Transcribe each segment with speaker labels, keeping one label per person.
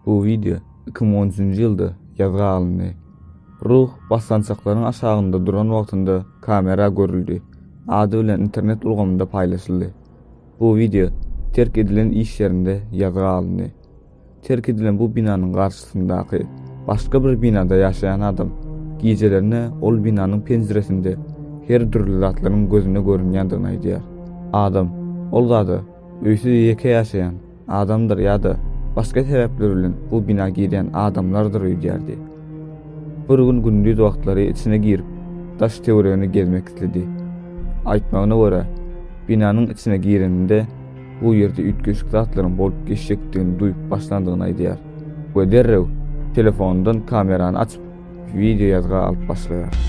Speaker 1: Bu video 2013-nji ýylda ýazga alyndy. Ruh basgançaklaryň aşagynda duran wagtynda kamera görüldi. Ady bilen internet ulgamynda paýlaşyldy. Bu video terk edilen iş ýerinde ýazga alyndy. Terk edilen bu binanyň garşysyndaky başga bir binada ýaşaýan adam gijelerine ol binanyň penjiresinde her dürli zatlaryň gözüne görünýändigini aýdýar. Adam ol zada öýsüz ýeke ýaşaýan adamdyr ýa-da başga sebäpler bilen bu bina girýän adamlardyr öýdýärdi. Bir gün gündiz wagtlary içine girip, daş-töweregini gezmek isledi. Aýtmagyna görä, binanyň içine gireninde bu ýerde üýtgeşik zatlaryň bolup geçjekdigini duýup başlandygyny aýdýar we derrew telefonyndan kamerany açyp, wideo ýazga alyp başlaýar.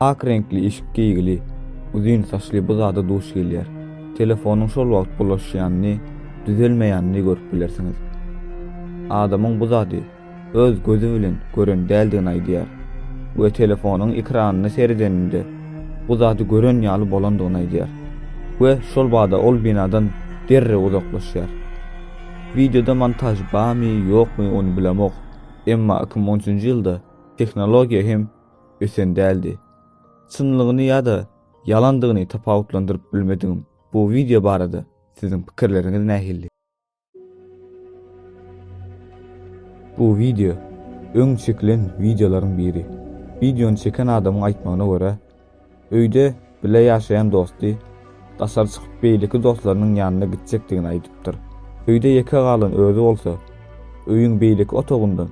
Speaker 1: Ak reňkli işik geýgili, uzyn saçly bu zada duş gelýär. Telefonyň şol wagt bulaşýanyny, düzelmeýänini görüp bilersiňiz. Adamyň bu zady öz gözi bilen gören däldigini aýdýar we telefonyň ekranyna seredeninde bu zady gören ýaly bolandygyny aýdýar we şol bada ol binadan derrew uzaklaşýar. Wideoda montaž bamy, ýokmy ony bilemok, emma iki müň onunjy ýylda tehnologiýa hem ösen däldi. Çynlygyny ýa-da ýalandygyny tapawutlandyryp bilmedigim bu wideo barada siziň pikirleriňiz nähili? Bu wideo, öň çekilen wideolaryň biri. Wideony çeken adamyň aýtmagyna görä, Öýde bile ýaşaýan dosty daşary çykyp beýleki dostlarynyň ýanyna gitjekdigini aýdypdyr. Öýde ýeke galan özi bolsa, öýüň beýleki otagyndan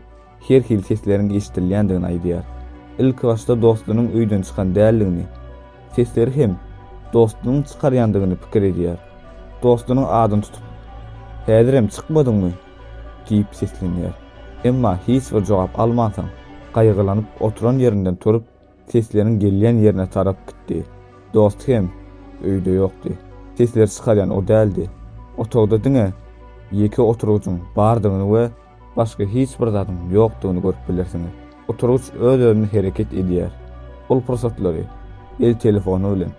Speaker 1: her hili sesleriň eşidilýändigini aýdýar. Ilkibaşda dostunyň öýden çykan däldigini, sesleri hem dostunyň çykarýandygyny pikir edýär. Dostunyň adyny tutup, Häzirem çykmadyňmy? diýip seslenýär. Emma hiç bir jogap almansoň, gaýgylanyp oturan ýerinden turup, Sesleriň gelýän ýerine tarap gitdi. Dost hem öýde ýokdy. Sesleri çykarýan o däldi. Otagda diňe ýeke oturgyjyň bardygyny we başga hiç bir zadyň ýokdugyny görüp bilersiňiz. Oturgyç öz-özüne hereket edýär. Ol pursatlary el telefony bilen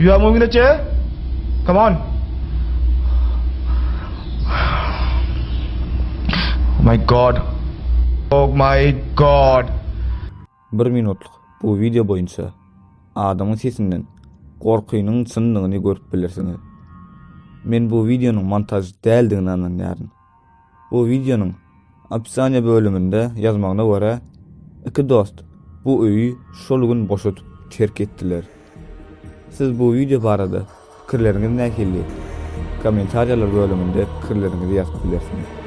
Speaker 2: Ýüň öňüne çe. Come on. Oh my god. Oh my god. Bir
Speaker 1: minutlyk bu wideo boýunça adamyň sesinden gorkynyň çyndygyny görüp bilersiňiz. Men bu wideonyň montaž däldigine ynanýaryn. Bu wideonyň opisiýa bölüminde ýazmagyna görä, iki dost bu öýi şol gün boşadyp terk etdiler. Siz bu wideo barada pikirleriňiz nähili? Kommentariýalar bölüminde pikirleriňizi ýazyp bilersiňiz.